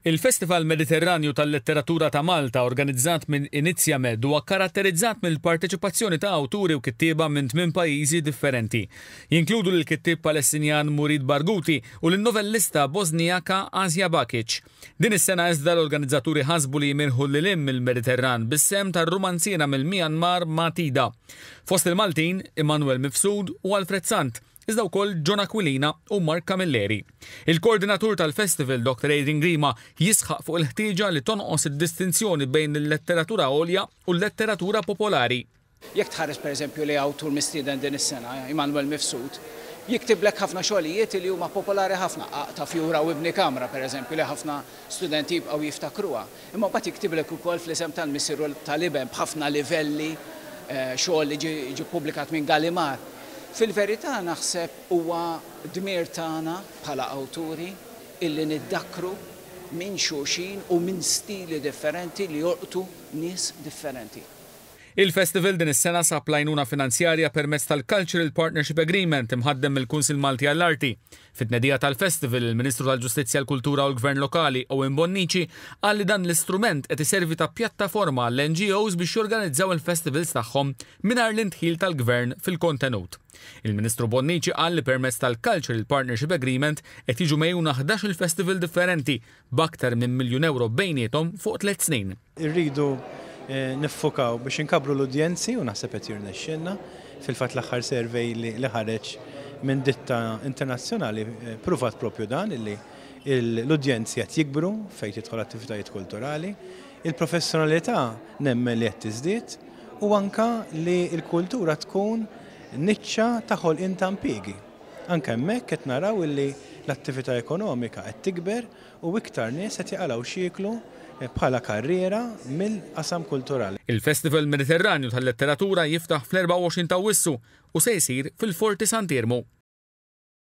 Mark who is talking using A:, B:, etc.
A: Il-Festival Mediterranju tal-Letteratura ta' Malta organizzat minn Inizjamed huwa kkaratterizzat mill-parteċipazzjoni ta' awturi u kittieba minn tmien pajjiżi differenti. Jinkludu lill-kittieb Palestinjan Murid Barghouti u lin-novellista Bosnijaka Asja Bakic. Din is-sena iżda l-organizzaturi ħasbu li jmirħu lil hinn mill-Mediterran bis-sehem tar-rumanziera mill-Myanmar Matida. Fost il-Maltin, Immanuel Mifsud u Alfred Sant. iżda wkoll John Aquilina u Mark Camilleri. Il-koordinatur tal-festival, Dr. Adrian Grima, jisħaq fuq il-ħtieġa li tonqos id-distinzjoni bejn il-letteratura għolja u l-letteratura popolari. Jekk tħares
B: pereżempju lejn awtur mistieden din is-sena, Immanuel Mifsud, jiktiblek ħafna xogħlijiet li huma popolari ħafna, Qaqta' fjura u ibni kamra pereżempju li ħafna studenti jibqgħu jiftakruha. Imma mbagħad jiktiblek ukoll fl-isem tal-Missier u tal-Iben b'ħafna livelli, xogħol li ġie ppubblikat minn Gallimard. Fil-verità naħseb huwa dmir tagħna bħala awturi illi niddakkru minn xulxin u minn stili differenti li jolqtu nies differenti. Il-Festival
A: din is-sena sab l-għajnuna finanzjarja permezz tal-Cultural Partnership Agreement imħaddem mill-Kunsill Malti għall-Arti, Fit-tnedija tal-Festival, il-Ministru tal-Ġustizzja, l-Kultura u l-Gvern Lokali, Owen Bonnici, qal li dan l-istrument qed iservi ta' pjattaforma għall-NGOs biex jorganizzaw il-festivals tagħhom mingħajr l-indħil tal-Gvern fil-kontenut. Il-Ministru Bonnici qal li permezz tal-Cultural Partnership Agreement qed jiġu megħjuna ħdax-il festival differenti b'aktar minn miljun ewro bejniethom fuq tliet snin. Irridu
C: niffokaw biex inkabbru l-udjenzi u naħseb qed jirnexxilna. Fil-fatt l-aħħar survey li ħareġ minn ditta internazzjonali pruvat proprju dan illi l-udjenzi qed jikbru fejn tidħol attivitajiet kulturali. Il-professjonalità nemmen li qed tiżdied u anke li l-kultura tkun niċċa ta' ħolqien ta' impjiegi. Anke hemmhekk qed naraw illi l-attività ekonomika qed tikber u iktar nies qed jaqalgħu x'jieklu bħala karriera mill-qasam kulturali. Il-Festival
A: Mediterranju tal-Letteratura jiftaħ fl-24 t'Awwissu u se jsir fil-Forti Sant'Iermu.